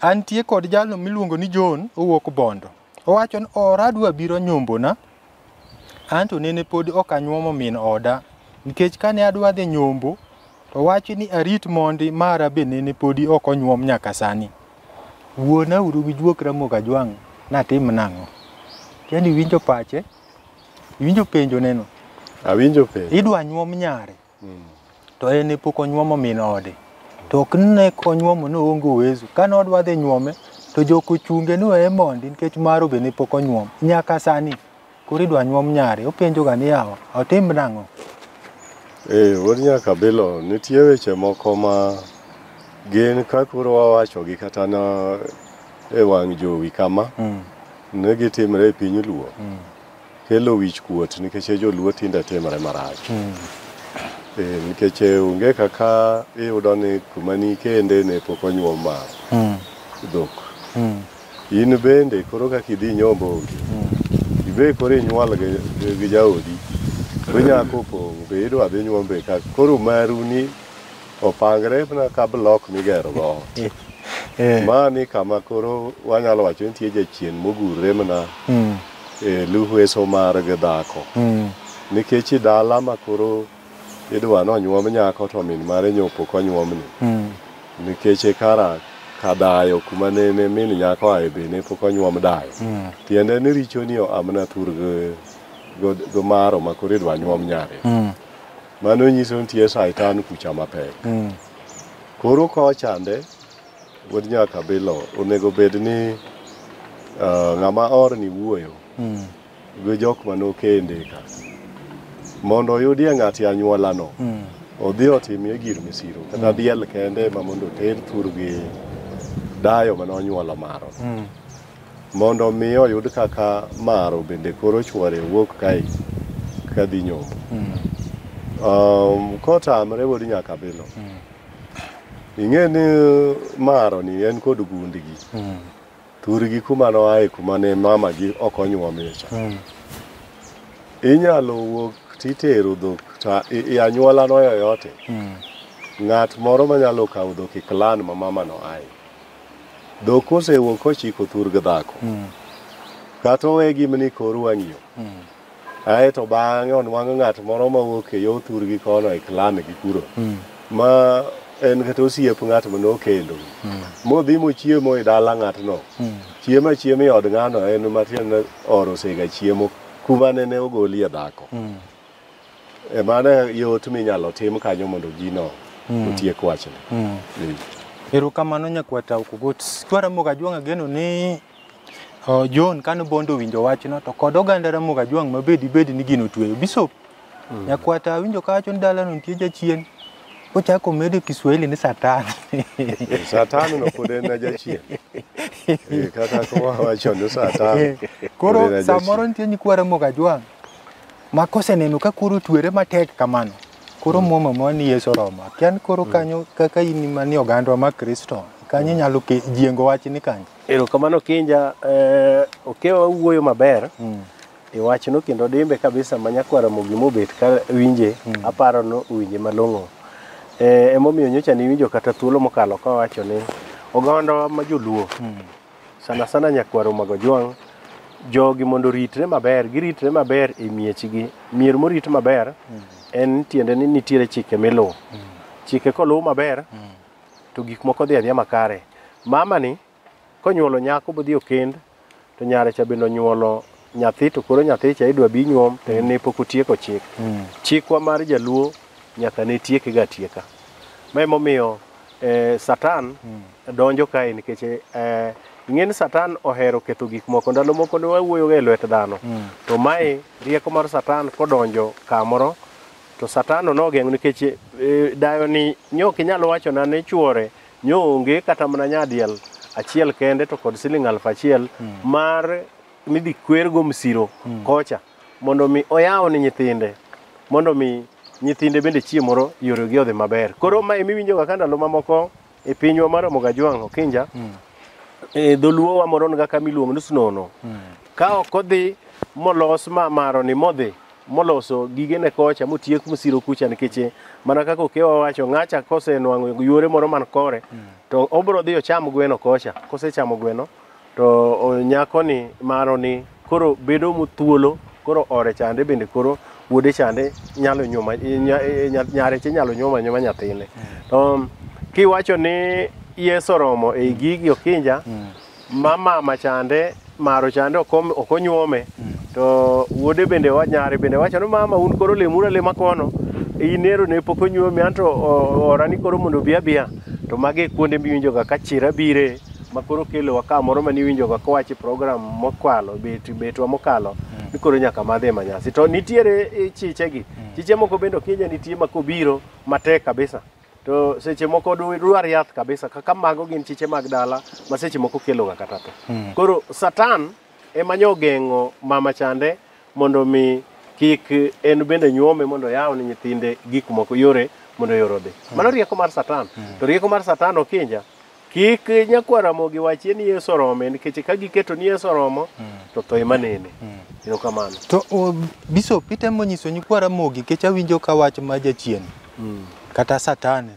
Antie kod jalo miluongo ni John owuok Bondo. Owacho ni ora adwa biro nyombona. Anto nene pod ok anyuomo min oda. Nikech kane adwa dhi nyombo, to wachi ni arit mondi mara be nene podi ok onyuom nyaka sani. Wuona uru gi juok Ramogi Ajwang' natim nang'o? Yaani iwinjo pache, iwinjo penjo neno. Awinjo penjo. Idwa nyuom nyare. to en ne pok onyuomo min ode to ok ne konyuomo ne oonge uwezo kane odwa dhi nyuome to jok ochunge ni weye mondi nikech maro be ne pok onyuom nyaka sani koro idwa nyuom nyare openjoga ni yawa otim nang'o Ee, wuod Nyakabilo, nitie weche moko ma gin ka koro wawachogi kata na e wang' jowi kama, Mm. ne gitimre e piny Luo. kelo wich kuot nikech e joluo tinde timre marach mm. e, nikech e, onge kaka iyudo ni kuma ni kende ne pok onyuom ma mm. dhok mm. in bende koro kaka idhi nyombo onge mm. ibe koro inyuol gi, gi jaodi to nyako pong' be idwa dhi nyuombe ka koro maru ni opangre na ka blok migero go eh. Eh. ma ni kama koro wanyalo wacho nitie jachien mogurre mana mm. e luhweso mar gi dhako mm. nikech i dala ma koro idwa ni onyuom nyako to min mare nyopo konyuomni mm. nikech e kara kadayo kuma nene min nyako ae be ne pok onyuom dayo mm. tiende ni richo ni amna thur go maro ma koro idwa nyuom nyare mm. mano nyiso nitie saitan kucha mapek mm. koro kochande Wuod nyaka bilo onego bed ni uh, ng'ama orni wuoyo mm. gi jok manokende ka mondo oyudie ng'ati anyuolano mm. odhi otimie gir misiro kata mm. diel kende ma mondo oter thur gi dayo mane onyuolo maro mm. mondo mi oyud kaka maro bende koro chwore wuok kae kadhi nyombo mm. um, kotamre wuod nyaka bilo mm. ing'e ni uh, maro ni en kod gundigi mm. thurgi kuma noaye kuma ne mamagi ok onyuomicha mm. inyalo wuok titero dhok ta i anyuola no yoyote mm. ng'at moro manyalo kawo dhok e klan ma mama no aye dhok kosewuok kochiko thurg dhako mm. kata owe gimni kor wang'iyo mm. Ae to bang'e onwang'o ng'at moro ma wuok e yo thurgi kono e klame gi kuro. Mm. Ma en kata osiep ng'at ma nokendo. Mm. Modhi mochiemo e dala ng'atno. Mm. Chiemo achiema e od ng'ano en matiende oro sega chiemo kuma nene ogolie dhako. Mm. E mano e yot minyalo tim kanyo mondo gino mm. otiek wachne. Mm. Erokamano nyakwata Okugot. Twaramoga Jwang'a geno ni John kane Bondo owinjo wachno to kod oganda Ramogi Ajwang' ma bedi bedi ni gino otweyo. Bishop mm. nyakwata awinjo ka wacho ni dalano nitie jachien ochako medo Kiswahili ni satan. satan no pod en jachien. Eh, kaka wawacho ni satan. Eh, koro samoro nitie nyikwa Ramogi Ajwang' ma koseneno ka koro otwere matek kamano koro mm. muma ma ni Yesu Roma kian koro mm. kanyo kaka in mani ogandwa ma Kristo kanyo inyalo jiengo wach ni kanyo Erokamano Kinja, eh, Okewa wawuoyo maber e wachno kendo dimbe kabisa ma nyakwara Mogi mobet ka winje aparo ni owinje malong'o. Eh, emomiyo nyocha niwinjo kata thuolo mokalo ka wacho ni ogandawa ma joluo sana sana nyakwaro mag Ojwang' jogi mondo oritre maber, giritre maber e miechgi. Mier morit maber en tiende ni nitiere chike miluwo. Chike koluw maber to gik moko dhi adhiya makare. Mamani konyuolo nyako bodhi okend to nyare cha bende onyuolo nyathi to koro nyathi cha idwa bi nyuom to en ne pok otieko chik. Chikwa mar jaluo nyaka ne tieke ga tieka. Ma emomiyo eh, Satan donjo kae nikech eh, ing'e ni Satan ohero ketho gik moko. Ndalo moko ne wawuoyoga e lwet dhano. To mae rieko mar Satan kodonjo kamoro To Satano nogeng'o nikech e, dayoni nyo ok inyal wachona ni chwore nyo onge kata mana nyadiel achiel kende to kod siling aluf achiel mar midhi kwergo msiro kocha mondo mi oyaw ni nyithinde mondo mi nyithinde bende chieng' moro yoregi odhi maber. Koro ma emiwinjoga ka ndalo mamoko e pinywa mar Ramogi Ajwang' Okinja e dholuo wa moron ga kama iluongo ni Snono ka ok odhi molos ma maroni modhi moloso gigene kocha motiek mosiro kucha nikech mana kaka okewa wacho ng'acha kosenwang'o yuore moro man kore to obro dhi ocham gweno kocha kosechamo gweno To nyakoni maro ni koro bedo muthuolo koro ore chande bende koro wuode chande nyalo nyuma nyareche nyalo nyuma nyuma nyathine. To kiwacho ni Yesu oromo ei gigi okinja ma mama chande maro chande ok onyuome to wuode bende nyare bende wacho ni mama un koro lemuru alema kono inero ne pok onyuomi anto orani koro mondo obi abiya to mage kuonde miwinjoga ka chira bire ma koro kelowa ka moro mane iwinjoga kowach e program mokwalo bet betwa mokalo ni koro nyaka madhi e manyasi to nitiere eh, chichegi chiche moko bende ok inya nitie ma kobiro matek kabisa to seche moko du- dwar yath kabisa kaka mago gin chiche mag dala ma seche moko keloga kata tho koro satan ema nyo ogeng'o mama chande mondo mi kik en bende nyuome mondo yaw ni nyithinde gik moko yore mondo yore odhi mano rieko mar satan to rieko mar satan okinja Kik nyakwar Ramogi wachie ni Yesu orome nikech ka giketo ni Yesu oromo to tho ema nene. Erokamano. To o, Bishop itemo nyiso nyikwa Ramogi nikech awinjo ka wach ma jachien kata satan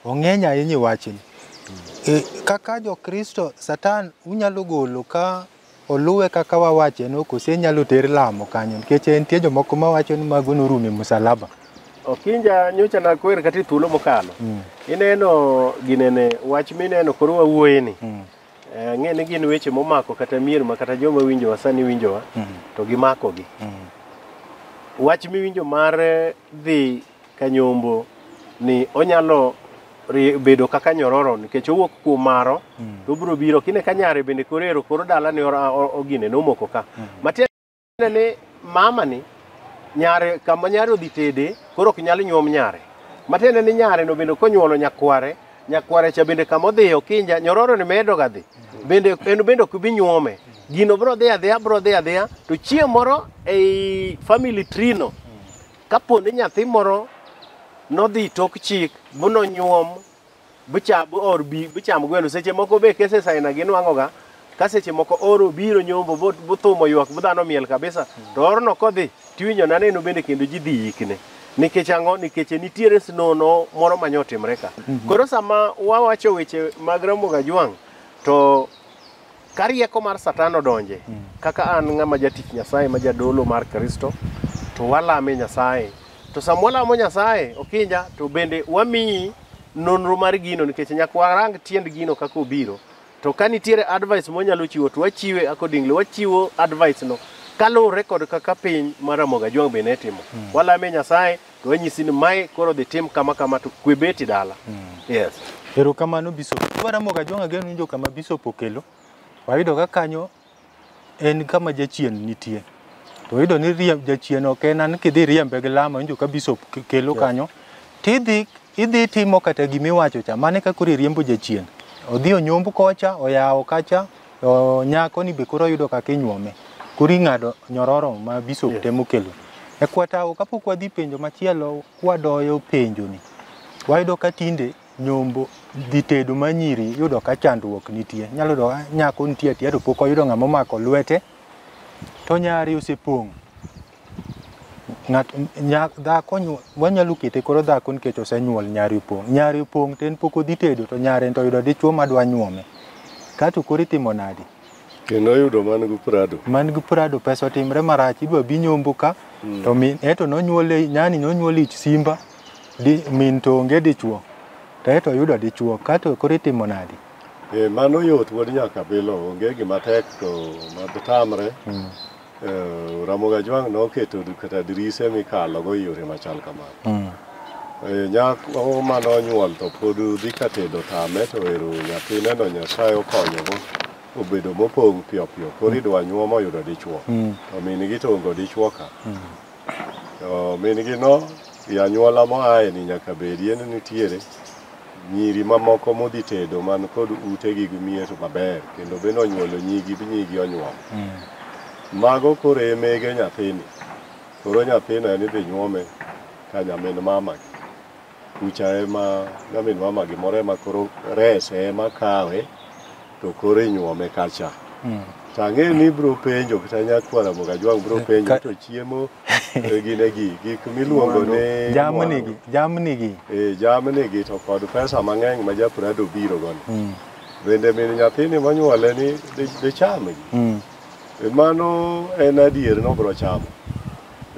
ong'eny ahinya e wachni. E, kaka jo Kristo satan unyalo golo ka oluwe kaka wawache no kose nyalo ter lamo kanyo nikech nitie jomoko ma wacho ni mago norumo e musalaba Okinja nyocha nakwer kata e thuolo mokalo mm. ineno ginene wach mineno koro wawuoye ni mm. Eh, ang'e ni gin weche momako kata mier ma kata joma winjowa sani winjowa mm. to gimakogi mm. wach miwinjo mar dhi Kanyombo ni onyalo ri- bedo kaka nyororo nikech owuok kuom maro to obiro biro kine ka nyare bende koro ero koro dala ni ora- o- ogine nomoko ka matiende ni mama ni nyare kama nyare odhi tede koro ok nyal nyuom nyare matiende ni nyare no bende konyuolo nyakware nyakware cha bende kama odhi okinja nyororo ni medo ga dhi bende en bende ok bi nyuome gino bro dhi adhiya bro dhi adhiya to chieng' moro ei family tree no Kapo ni nyathi moro nodhi tok chik bu nonyuom bucha bu or bi bucham gweno seche moko be kese saina gi nwango ga ka seche moko oro biro nyombo bu bu thumo ywak bu dhano miel kabisa to orno kodhi tiwinjo na neno bende kendo ji dhi yikne nikech ang'o nikech nitiere snono moro ma nyotimre ka koro sama wawacho weche mag Ramogi Ajwang' to Ka rieko mar Satan odonje, kaka an ng'ama jatich Nyasaye ma jadolo mar Kristo, to walame Nyasaye. To sama walamo Nyasaye, Okinja, to bende wamiyi nonro mar gino nikech nyaka warang tiend gino kaka obiro. To ka nitiere advice mwanyalo chiwo to wachiwe accordingly, wachiwo advice no kaluwore kod kaka piny mar Ramogi Ajwang' be ne timo. Walame Nyasaye to wanyisi ni mae koro dhi tim kama kama to kwe beti dala yes Erokamano Bishop. Waramoga Jong'a geno winjo kama Bishop okelo. Wayudo ka kanyo en kama jachien nitie. To wayudo ni riemb jachien ok en an kidhi riembe gi lama winjo ka Bishop ke- kelo kanyo. Tidhi idhi timo kata gima iwacho cha mane ka koro iriembo jachien. Odhi onyomb kocha, oyawo kacha, To nyako ni be koro yudo kaka inyuome. Koro ing'ado nyororo ma bishop yes. temo kelo. E kwatawo kapok wadhi penjo machielo kwadoyo penjo ni. Wayudo ka tinde nyombo dhi tedo manyiri yudo ka chandruok nitie. Nyalo yudo ah, nyako nitie atiya to pok oyudo ng'ama omako lwete to nyari osepong'. ng'at nyak dhako nyu- wanyalo kete koro dhako nikech osenyuol nyare opong' nyare opong' to en pok odhi tedo to nyare to oyudo dichwo madwa nyuome kato koro itimo nadi kendo oyudo man gi prado man gi prado pesa otimre marach idwa bi nyombo ka to min eto nonyuole nyani nonyuole ich simba di, min to onge dichwo to eto oyudo dichwo kato koro itimo nadi Eh, mano yot wuod nyakabilo onge gima tek to matamre Eh, Ramogi Ajwang' noketo d- kata dirise mikalogo e yore machal kamano. Mm. Eh, Nyako ma nonyuol to pod dhi ka tedo tame to ero nyathineno Nyasaye okonyogo obedo mopong' piyo piyo. Koro idwa nyuom oyudo dichwo. Mm. To min-gi to ongo dichwo ka. To min gi no e anyuola moaye ni nyaka bedie ni nitiere nyiri mamoko modhi tedo man kod ute gi gimier maber kendo bende onyuolo nyigi bi nyigi onyuol. Mago koro e mege nyathini. Koro nyathino en idhi nyuome ka nyamin mama. Kucha ema nyamin mama gimoro ema koro rese ema kawe to koro inyuome kacha. Mm. Tang'e ni bro penjo kata nyakwara moga jwang bro penjo Ka- to chiemo e gine gi gik miluongo ni Jamni gi, jamni gi. e jamni gi to kod pesa mang'eny ma japrado biro goni. Mm. Bende min nyathini monyuole ni di- dicham gi. Mm. E Mano en adier no bro chamo.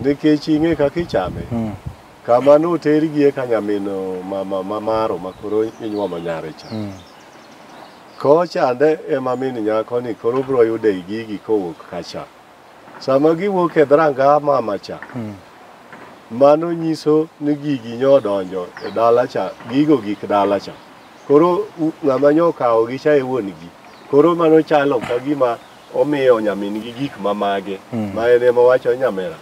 Nikech ing'e kaka ichame. Mm. Kama notergie ka nyamin mama ma maro ma koro inyuomo nyare cha. Mm. Kochande ema min nyako ni koro bro yude gigi kowuok kacha. Sama giwuok e dhranga mama cha, Mm. mano nyiso ni gigi nyodonjo e dala cha, gigo gik dala cha. Koro u- ng'ama nyokawo gi cha e wuon gi. Koro mano chalo ka gima omiyo nyamin gi gik ma mage. Mm. Ma en ema wacho nyamera.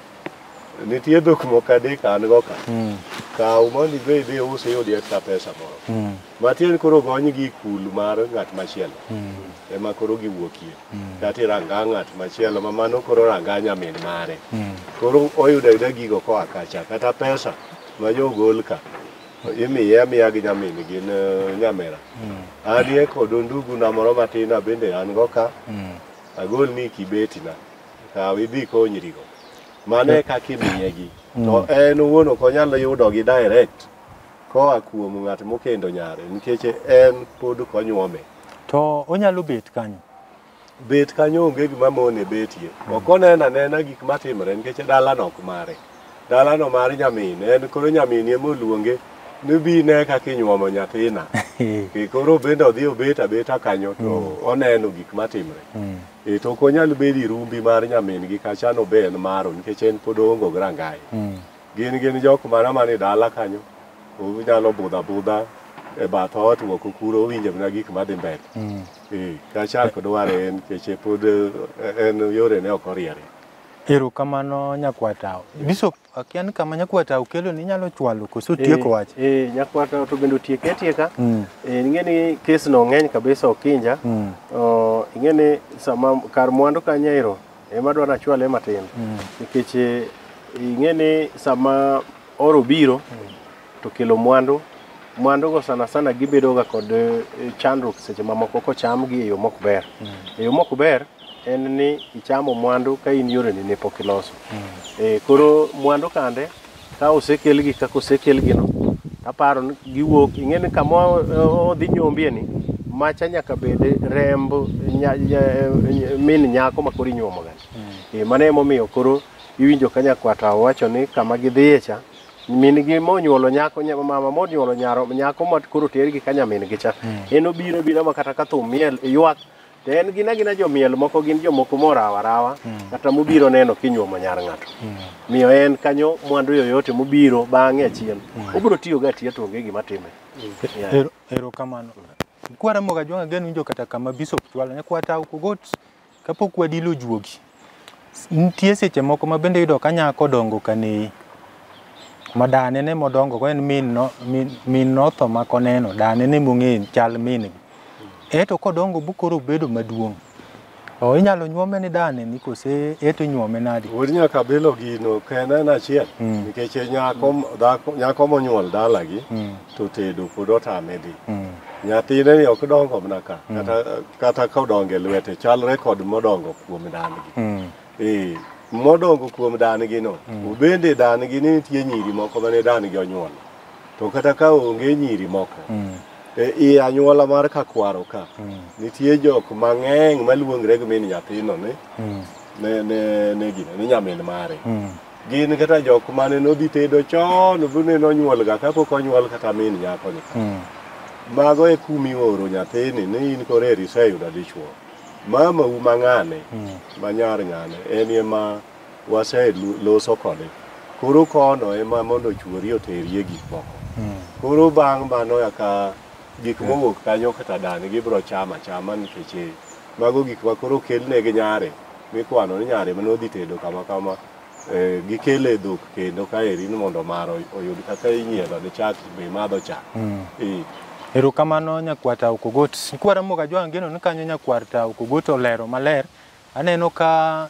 Nitie dhok moko adek an go ka. Mm. Kaw mondo idhi idhi us iyud extra pesa moro. Mm. Matiend koro gony gi kul mar ng'at machielo. Mm. Ema koro giwuokie. Mm. Kati ranga ng'at machielo ma mano koro ranga nyamin mare. Mm. Koro oyudo ayuda gigo koa kacha kata pesa ma jo gol ka. imiye amiya gi nyamin gin eh, nyamera mm. anie kod ondugu na moro matin abende an go ka mm. agol ni kibeti na kaw idhi konyrigo mano e kaka imiyegi to en owuon ok onyal yudogi direct koa kuom ng'at mokendo nyare nikech en pod ok onyuome to onyalo bet kanyo bet kanyo onge gima mone betie ok oneno anena gik matimore nikech dalano ok mare dalano mar nyamin en koro nyamin ema oluonge ni bi ine kaka inyuomo nyathina Ke koro bende odhi obet abeta kanyo to oneno gik matimre E, to ok onyal bedo irumbi mar nyamin-gi kacha nobe en maro nikech en pod oongo gi rangaye Mm. gin gin jok mana man e dala kanyo onyalo budho abudha e bath ot moko kuro owinjo mana gik madhi mbele Mm. Eh, kacha ok dware en nikech pod eh, en yorene ok oriere Erokamano nyakwata. Bishop Akia ni kama nyakwata okelo ni nyalo chwalo koso Eh, tieko wach. Eh, nyakwata to bende otieke atieka. Mm. Eh, ing'e ni kes no ng'eny kabisa Okinja. Mm. Oh, ing'e ni sama kar mwandu ka nyairo ema dwaro achwale matin. Mm. Nikech eh, ing'e ni sama oro biro to kelo mwandu mwandu go sana sana gibedo ga kod eh, chandruok seche mamoko kochamgi e yo mok ber. E yo mok ber en ni ichamo mwandu ka in yoreni ne pok iloso. Eh, koro mwandu kande ka osekelgi kaka osekelgino aparo ni giwuok ing'e ni kama o- o- odhi nyombie ni macha nyaka bed remb nya- nya- min nyako ma koro inyuomoga Eh, mano emomiyo koro iwinjo ka nyakwata owacho ni kama gidhiye cha min gi monyuolo nyako nya- mama monyuolo nyaro nyako ma koro tergi ka nyamin gi cha en obiro biro ma kata ka thum miel ywak To en gin agina jomiel moko gin jomoko morawo arawa hmm. kata mobiro neno kinyuomo nyar ng'ato. Hmm. Miyo en kanyo mwandu yoyote mobiro bang'e achien. Hmm. Obiro tiyo ga tiyo tonge gima time. Ero, ero kamano. Kwara moga jwanga genu njo kata kama bisop chwala ne kwata uko got kapok wadilo juogi. Nitie seche moko ma bende yudo ka nyako dongo ka neyi. Ma dane ne modongo go en min no, min, min notho ma koneno, dane ne mong'eyo chal min gi. Eto kodongo bukoro bedo maduong'. O inyalo nyuome ni dane ni kose eto inyuome nadi? Wuod nyaka bilo gino ka en en achiel Mm. nikech e nyako dhako nyako monyuol dalagi Mm. to tedo pod otame dhi. Mm. Nyathine ni ok dongo mana ka kata kata kodongo e lwete chalre kod modongo kuom dan-gi Mm. Eh, modongo kuom dan-gi no bende dan-gi ni nitie nyiri moko mane dan-gi onyuolo to kata ka onge nyiri moko Mm. e i anyuola mar kakwaro ka Mm. nitie jok mang'eny maluongre gi min nyathino ni Mm. ne ne ne gino ni nyamin mare Mm. gin kata jok mane nodhi tedo chon bune nonyuolga kapok onyuol kata min nyakoni mm. mago e kumioro nyathini ni in koro eri iseyudo dichwo mama u mang'ane mm. manyar ng'ane en ema waseloso kode koro kono ema mondo ochwori oterie gik moko mm. koro bang' mano yaka gik mowuok kanyo kata dani gibiro chama chama nikech Mago gik ma koro okelne gi nyare mikwano ni nyare mane odhi tedo kama kama eh, gikele e dhok kendo kaeri ni mondo maro oyud kaka inyiedho ni chak be madho chak Eh, Erokamano nyakwar Tao Kogot. Nkwara Moga Jwang' geno ni kanyo nyakwar Tao Kogot olero maler. Aneno ka